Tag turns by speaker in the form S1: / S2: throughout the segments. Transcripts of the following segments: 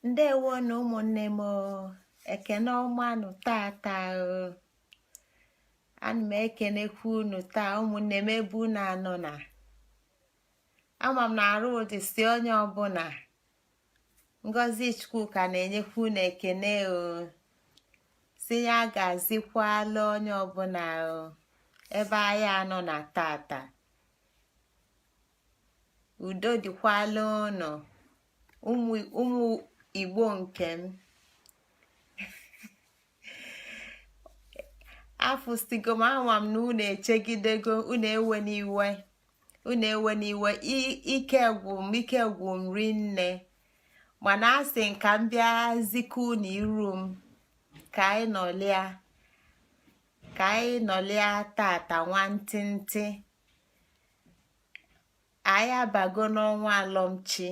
S1: ndewonụ ụmụnne m ekene ọma nụ tata ana m ekenekwa unu taa ụmụnne m ebe unu anọ na ama m na arụ dịsị onye ọbụla ngozi chukwuka na-enyekwa unu ekene o sị ya gazikwala onye ọbụla ebe anyị anọ na tata udo dịkwala unu ụmụ igbo nke m afụsigo m ama m na unu echegidego unu ewena iwe unu ewena iwe ike gwụ m ike gwụ m rinne mana asị m ka m bịa zikwa unu iru m ka anyị nọlịa ka anyị nọlịa tata nwantịntị anyị abago n'ọnwa alọmchi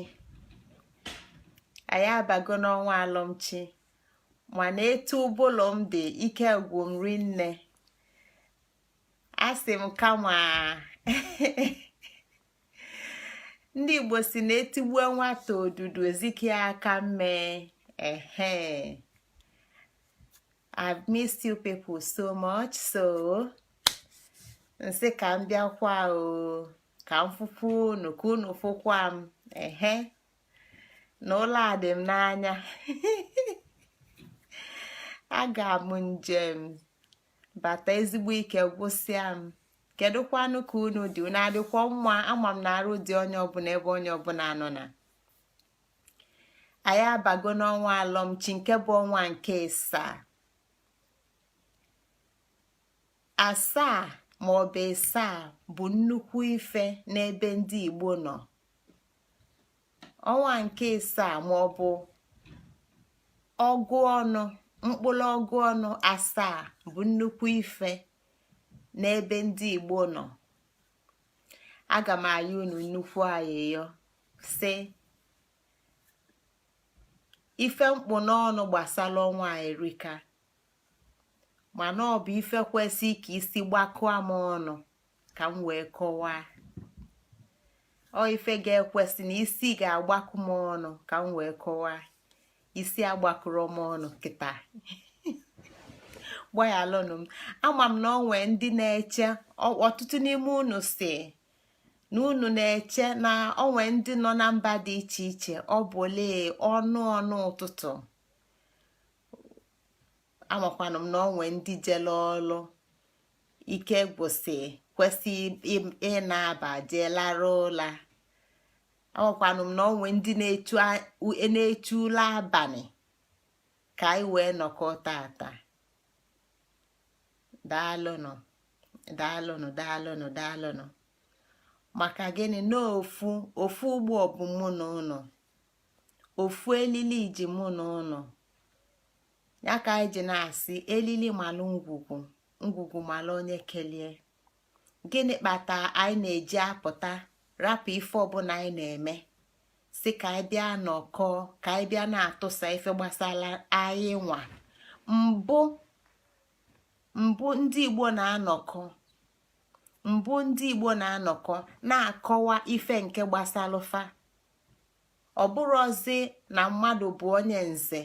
S1: anyị abago n'ọnwa alọmchi mana etu ụbụlụ m dị ike gwụ m rinne asị m kama ndị igbo sị na etigbue nwata odudu ezikwe aka mmee ehe I've missed you people so much so m sị ka m bịakwa o ka m fụkwa unu ka unu fụkwa m ehe na ụla dị m n'anya aga m njem bata ezigbo ike gwụsịa m kedụkwanụ ka unu dị unu adịkwa mma ama m na arụ dị onye ọbụla ebe onye ọbụla nọ na anyị abago n'ọnwa alọmchi nke bụ ọnwa nke ịsaa asaa ma ọ bụ ịsaa bụ nnukwu ife n'ebe ndị Igbo nọ ọnwa nke ịsaa ma ọ bụ ọgụ ọnụ mkpụlụ ọgụ ọnụ asaa bụ nnukwu ife n'ebe ndị Igbo nọ aga m ayọ unu nnukwu ayịyọ sị ife m kpụ n'ọnụ gbasala ọnwa a erika mana ọ bụ ife kwesị ka isi gbakọọ m ọnụ ka m wee kọwaa ọ ife ga-ekwesị na isi ga-agbakọ m ọnụ ka m wee kọwaa isi agbakọrọ m ọnụ kịta gbaghalụnụ m ama m na ọ nwee ndị na-eche ọtụtụ n'ime unu sị na unu na-eche na ọ nwee ndị nọ na mba dị iche iche ọ bụlụ ọnụ ọnụ ụtụtụ amakwanụ m na ọ nwee ndị jele ọlụ ike gwụsị kwesị ịnaba jee larụ ụla amakwanụ m na o nwe ndị na-echu ụla abanị ka anyị wee nọkọ tata daalụnụ daalụnụ daalụnụ daalụnụ maka gịnị na ofu ofu ụgbọ bu mụ na unu ofu elili ji mụ na unu ya ka anyị ji na-asị elili malụ ngwugwu ngwugwu malụ onye kelie gịnị kpata anyị na-eji apụta rapụ ife ọbụla anyị na-eme sị ka anyị bịa nọkọ ka anyị bịa na-atụsa ife gbasala anyị nwa mbụ mbụ ndị igbo na-anọkọ mbụ ndị igbo na-anọkọ na-akọwa ife nke gbasalụ fa ọ bụrọzi na mmadụ bụ onye nze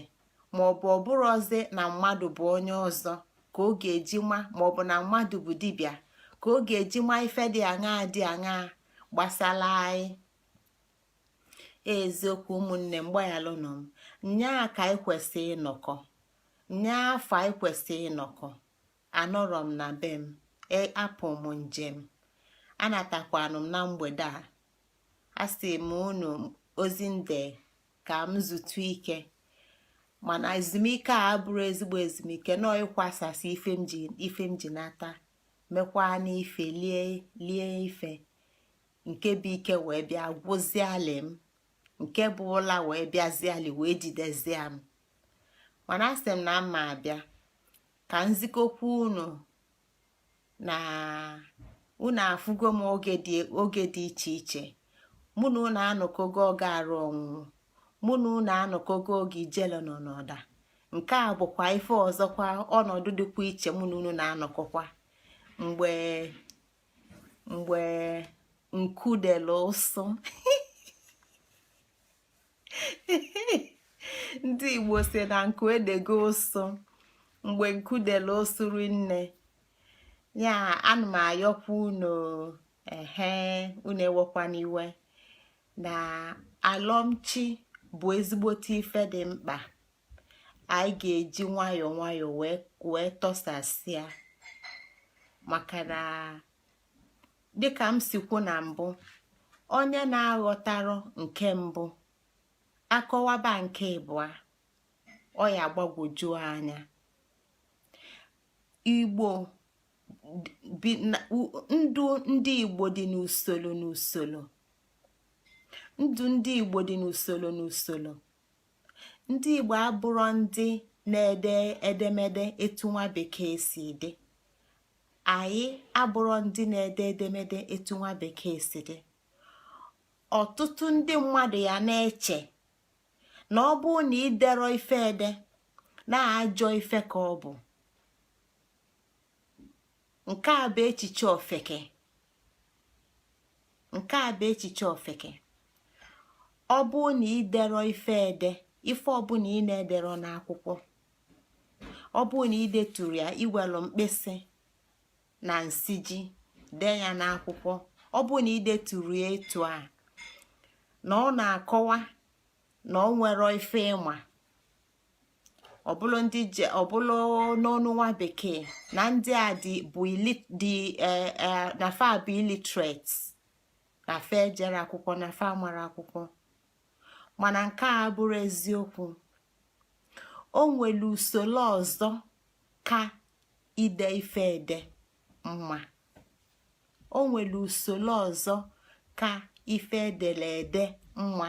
S1: maọbụ ọ bụrọzi na mmadụ bụ onye ọzọ ka ọ ga-eji ma maọbụ na mmadụ bụ dibịa ka ọ ga-eji ma ife dị aṅaa dị aṅaa gbasala anyị eziokwu ụmụnne m gbaghalụnụ m nnyaa ka anyị kwesị ịnọkọ nnyaafụ anyị kwesị ịnọkọ anọrọ m na be m e, apụ m njem anatakwanụ m na mgbede a asị m unu ozi nde ka m zutu ike mana ezumike a abụrọ ezigbo ezumike nọ ịkwasasị ife m ji ife m ji nata mekwaa n'ife lie lie ife nke bụ ike wee bịa gwụzialị m nke bụ ụla wee bịazialị wee jidezie m mana asị m na m ma-abịa ka m zikọkwa unu na unu afụgo m oge dị iche iche mụ na unu anọkogo oge arụ ọnwụnwụ mụ na unu anọkogo oge ijele nọ n'ọda nke a bụkwa ife ọzọkwa ọnọdụ dịkwa iche mụ na unu na-anọkọkwa mgbe mgbe nku dele ụsụ ndị igbo sị na nku edego ụsụ mgbe nku dela osuru nne ya ana m ayọkwa unu ehe unu ewekwana iwe na alọmchi bụ ezigbote ife dị mkpa anyị ga-eji nwayọọ nwayọọ wee tọsasịa maka na dịka m si kwu na mbụ onye na-aghọtarọ nke mbụ a kọwaba nke ịbụa ọ ya gbagwojuo anya igbo ndụ ndị igbo dị n'usoro n'usoro ndụ ndị igbo dị n'usoro n'usoro ndị igbo abụrọ ndị na-ede edemede etu nwa bekee si dị anyị abụrọ ndị na-ede edemede etu nwa bekee si ede ọtụtụ ndị mmadụ ya na-eche na ọ bụrụ na idero ife ede na ajọ ife ka ọ bụ nke a bụ echiche ofeke nke a bụ echiche ofeke ọ bụrụ na idero ife ede ife ọbụla ị na-edero n'akwụkwọ ọ bụrụ na ideturo ya iwelu mkpịsị na nsiji dee ya n'akwụkwọ ọ bụrụ na ideturo ya etu a na ọ na-akọwa na o nwero ife ịma ọbụlụ ndị je ọbụlụ n'ọnụ nwa bekee na ndị a dị bụ dị e, e, na fa bụ illiterate na fa ejero akwụkwọ na fa amarọ akwụkwọ mana nke a abụrọ eziokwu o nwere usoro ọzọ ka ide ife ede mma o nwere usoro ọzọ ka ife edelu ede mma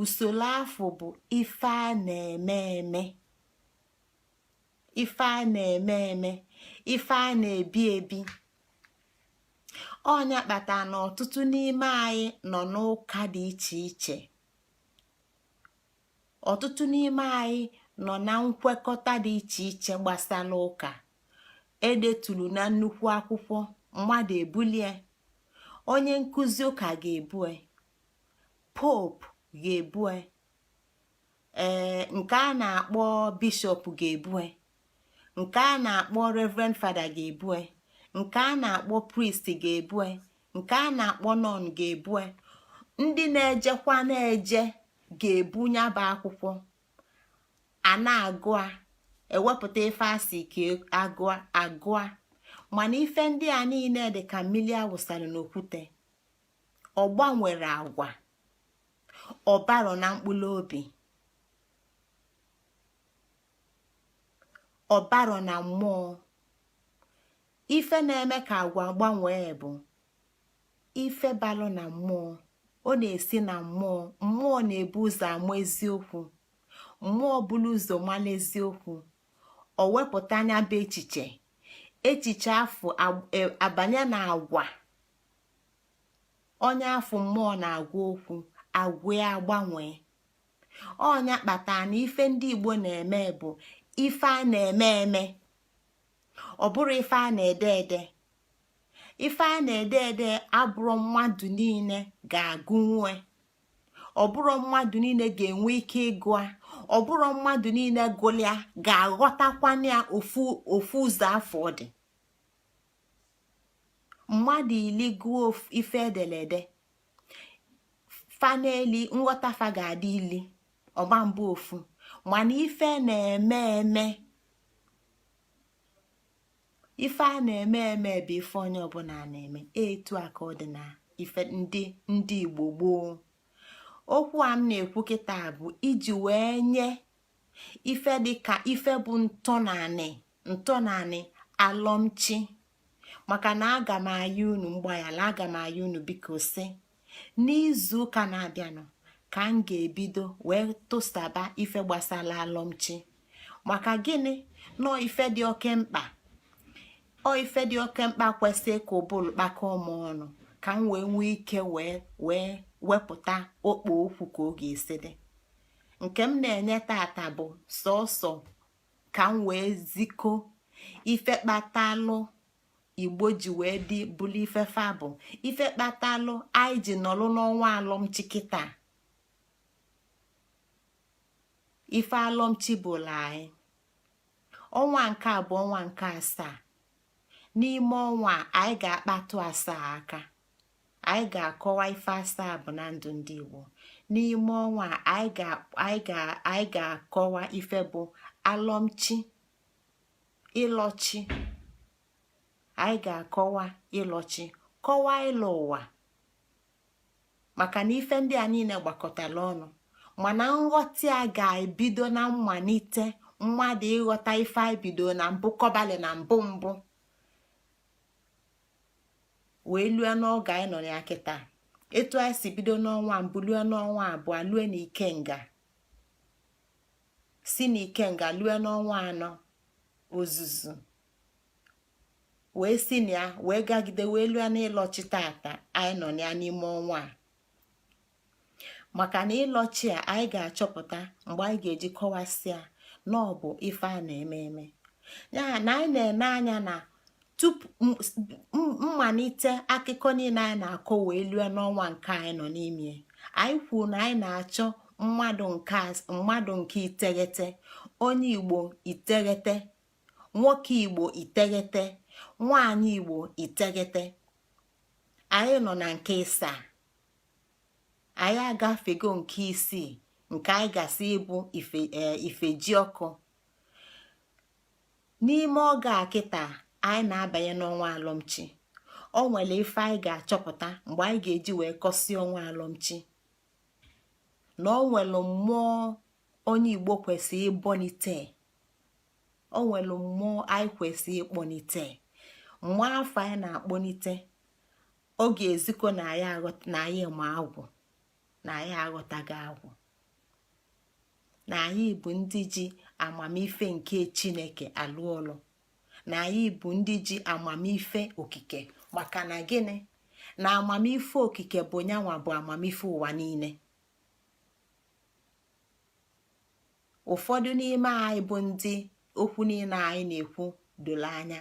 S1: usoro afụ bụ ife a na-eme eme ife a na-eme eme ife a na-ebi ebi ọ nya kpatara na ọtụtụ n'ime anyị nọ n'ụka dị iche iche ọtụtụ n'ime anyị nọ na nkwekọta dị iche iche gbasara ụka edetulu na nnukwu akwụkwọ mmadụ ebulie onye nkụzi ụka ga-ebue pope ga-ebue ee nke a na-akpọ bishop ga-ebue nke a na-akpọ reverend fada ga-ebue nke a na-akpọ priest ga-ebue nke a na-akpọ nun ga-ebue ndị na-ejekwa na-eje ga-ebu ya bụ akwụkwọ a na-agụ a ewepụta ife asị ka e, agụa agụa mana ife ndị a niile dị ka mmiri awụsara n'okwute ọ gbanwero agwa ọ barọ na mkpụrụ obi ọ barọ na mmụọ ife na-eme ka agwa gbanwee bụ ife balụ na mmụọ ọ na-esi na mmụọ mmụọ na-ebu ụzọ ama eziokwu mmụọ bulu ụzọ mala eziokwu o wepụta nya bụ echiche echiche afụ e, abanye na agwa onye afụ mmụọ na-agwa okwu agwa ya agbanwee ọ nya kpata na ife ndị igbo na-eme bụ ife a na-eme eme ọ bụrọ ife a na-ede ede ife a na-ede ede abụrọ mmadụ niile ga-agụnwu ọ bụrọ mmadụ niile ga-enwe ike ịgụa ọ bụrọ mmadụ niile gụlịa ga-aghọtakwanụ ya ofu ụzọ afụ ọ dị mmadụ ili gụọ ife e dele ede fa n'ili nghọta fa ga-adị ili ọ ma-abụ ofu mana ife a na-eme eme ife a na-eme eme bụ ife onye ọbụla na-eme etu a ka ọ dị na ife ndị Igbo gboo okwu a m na-ekwu kịta bụ iji wee nye ife dị ka ife bụ ntọnanị ntọnanị alọmchi maka na aga m ayọ unu mgbaghara aga m ayọ unu biko si n'izu ụka na-abịanụ ka m ga-ebido wee tụsaba ife gbasara alọmchi maka gịnị na ọ ife dị oke mkpa ọ ife dị oke mkpa kwesịrị ka ụbụrụ kpakọọ m ọnụ ka m wee nwee ike wee wepụta okpo okwu ka ọ ga-esi dị nke m na-enye tata bụ sọsọ ka m wee ziko ife kpatalụ igbo ji wee dị bụlụ ife fa bụ ife kpatalụ anyị ji nọlụ n'ọnwa alọmchi kịta ife alọmchi bụlụ anyị ọnwa nke a bụ ọnwa nke asaa n'ime ọnwa a anyị ga-akpatụ asaa aka anyị ga-akọwa ife asaa bụ na ndụ ndị Igbo n'ime ọnwa a anyị ga-akọwa ife bụ alọmchi ịlọchi anyị ga-akọwa ịlọchi kọwaa ịlọ ụwa maka na ife ndị a niile gbakọtara ọnụ mana nghọta ya ga-ebido na mmalite mmadụ ịghọta ife anyị bido na mbụ kọbalị na mbụ mbụ wee lue n'oge anyị nọ na ya kịta etu anyị si bido n'ọnwa mbụ lue n'ọnwa abụọ lue na ikenga si na ikenga lue n'ọnwa anọ ozuzu wee si na ya wee gagide wee lue n'ịlọchi tata anyị nọ na ya n'ime ọnwa a maka na ịlọchi a anyị ga-achọpụta mgbe anyị ga-eji kọwasịa na ọ bụ ife a na-eme eme ya na anyị na-ene anya na tupu mmalite akụkọ niile anyị na-akọ wee lue n'ọnwa nke anyị nọ n'ime anyị kwuru na anyị na-achọ mmadụ nke iteghete onye igbo iteghete nwoke igbo iteghete nwanyị igbo iteghete anyị nọ na nke ịsaa anyị agafego nke isii nke anyị gasịị bụ ifejiọkụ n'ime oge a kịta anyị na-abanye n'ọnwa alọmchi o nwere ife anyị ga-achọpụta mgbe anyị ga-eji wee kọsịa ọnwa alọmchi na o nwere mmụọ onye igbo kwesịrị ịbọnite o nwere mmụọ anyị kwesịrị ịkpọnite mmụọ afụ anyị na-akpọnite ọ ga-ezikọ na anyị ma agwụ na anyị aghọtago agwụ na anyị bụ ndị ji amamife nke chineke alụ ọlụ na anyị bụ ndị ji amamife okike maka na gịnị na amamife okike bụ nyanwa bụ amamife ụwa niile ụfọdụ n'ime anyị bụ ndị okwu niile anyị na-ekwu doro anya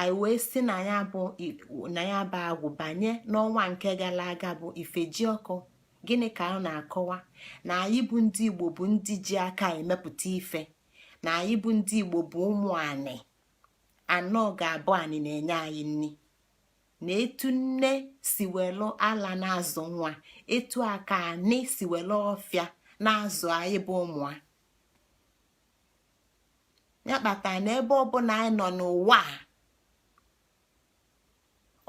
S1: anyị wee si na ya bụ agwụ banye n'ọnwa nke gara aga bụ ifejiọkụ gịnị ka ọ na-akọwa na anyị bụ ndị igbo bụ ndị ji aka emepụta ife na anyị bụ ndị igbo bụ ụmụ anị na ọ ga-abụ anị na-enye anyị nri na etu nne si welu ala na-azụ nwa etu a ka anị si welu ọfịa na-azụ anyị bụ ụmụ a ya kpata na ebe ọbụla anyị nọ n'ụwa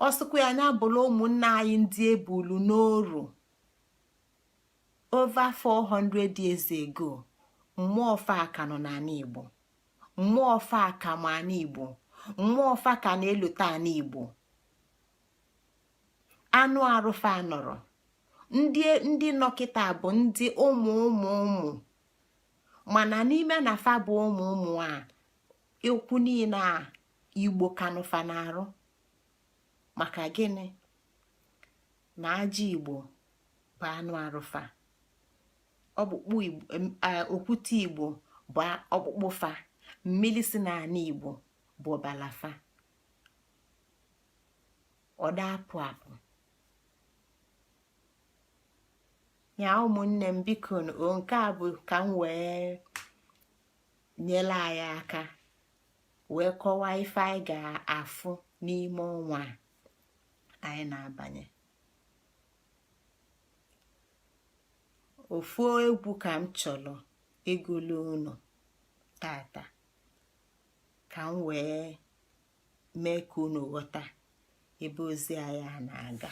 S1: ọ sọkwa ya nya bụrụ ụmụnne anyị ndị e bulu n'oru over 400 years ago mmụọ fa ka nọ n'anị Igbo mmụọ fa ka ma anị Igbo mmụọ fa ka na-elota anị Igbo anụ arụ fa anọrọ ndị nọ kịta bụ ndị ụmụ ụmụ ụmụ mana n'ime na fa bụ ụmụ ụmụ a ekwu niile a igbo ka nọ fa n'arụ maka gịnị na aja igbo bụ anụ arụ fa ọkpụkpụ okwute igbo bụ ọkpụkpụ fa mmiri si n'anị igbo bụ ọbala fa ọ da apụ apụ ya ụmụnne m biko o nke a bụ ka m wee nyere anyị aka wee kọwaa ife anyị ga-afụ n'ime ọnwa anyị na-abanye ofu egwu ka m chọrọ ịgụlụ unu tata ka m wee mee ka unu ghọta ebe ozi anyị a na-aga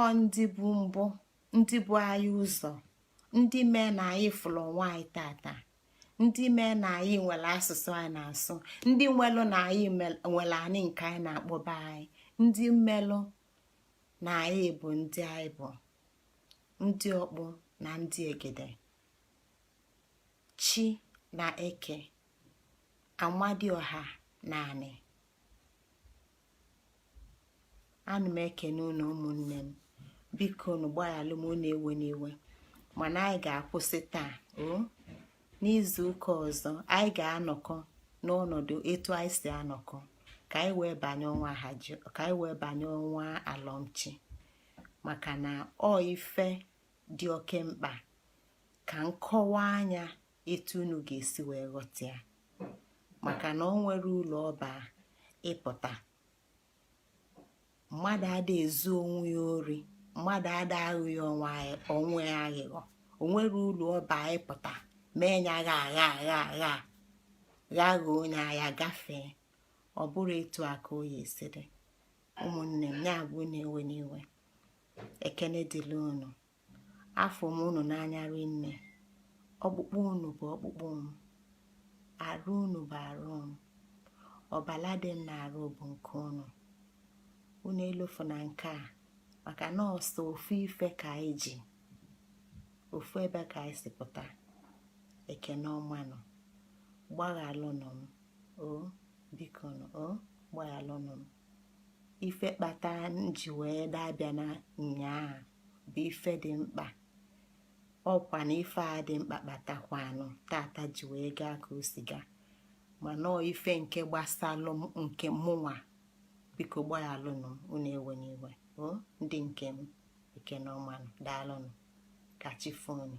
S1: ọ ndị bu mbụ ndị bu anyị ụzọ ndị mee na anyị fụrụ onwe anyị tata ndị mee na anyị nwere asụsụ anyị na-asụ ndị melu na anyị nwelu anị nke anyị na-akpọ be anyị ndị melu na anyị bụ ndị anyị bụ ndị ọkpụ na ndị egede chi na eke amadịọha na anị ana m ekene unu ụmụnne m biko unu gbaghalụ m unu ewena iwe mana anyị ga-akwụsị taa o n'izu ụka ọzọ anyị ga-anọkọ n'ọnọdụ etu anyị si anọkọ ka anyị wee banye ọnwa haji ka anyị wee banye ọnwa alọmchi maka na ọ ife dị oke mkpa ka m kọwaa nya etu unu ga-esi wee ghọta ya maka na o nwere ụlọ ọba ịpụta mmadụ ada ezu onwe ya ori mmadụ ada aghọ onwe ya aghụghọ o nwere ụlọ ọba ịpụta mee nya agha agha onye agha gafee ọ bụrụ etu aka onye si dị ụmụnne m nya bụ unu ewena iwe ekene dịlị unu afụ m unu n'anya rinne ọkpụkpụ unu bụ ọkpụkpụ m arụ unu bụ arụ m ọbala dị m n'arụ bụ nke unu unu elofuna nke a maka na ọ sọ ofu ife ka anyị ji ofu ebe ka anyị si pụta ekene ọmanụ gbaghalụnụ m o biko o gbaghalụnụ m ife kpata m ji wee dabịa na nyaa bụ ife dị mkpa ọ kwa na ife a dị mkpa kpatakwanụ tata ji wee gaa ka o si gaa mana ọ ife nke gbasalụ m nke mụnwa biko gbaghalụnụ unu ewena iwe o ndị nke m ekene ọmanụ daalụnụ ka chi fo nu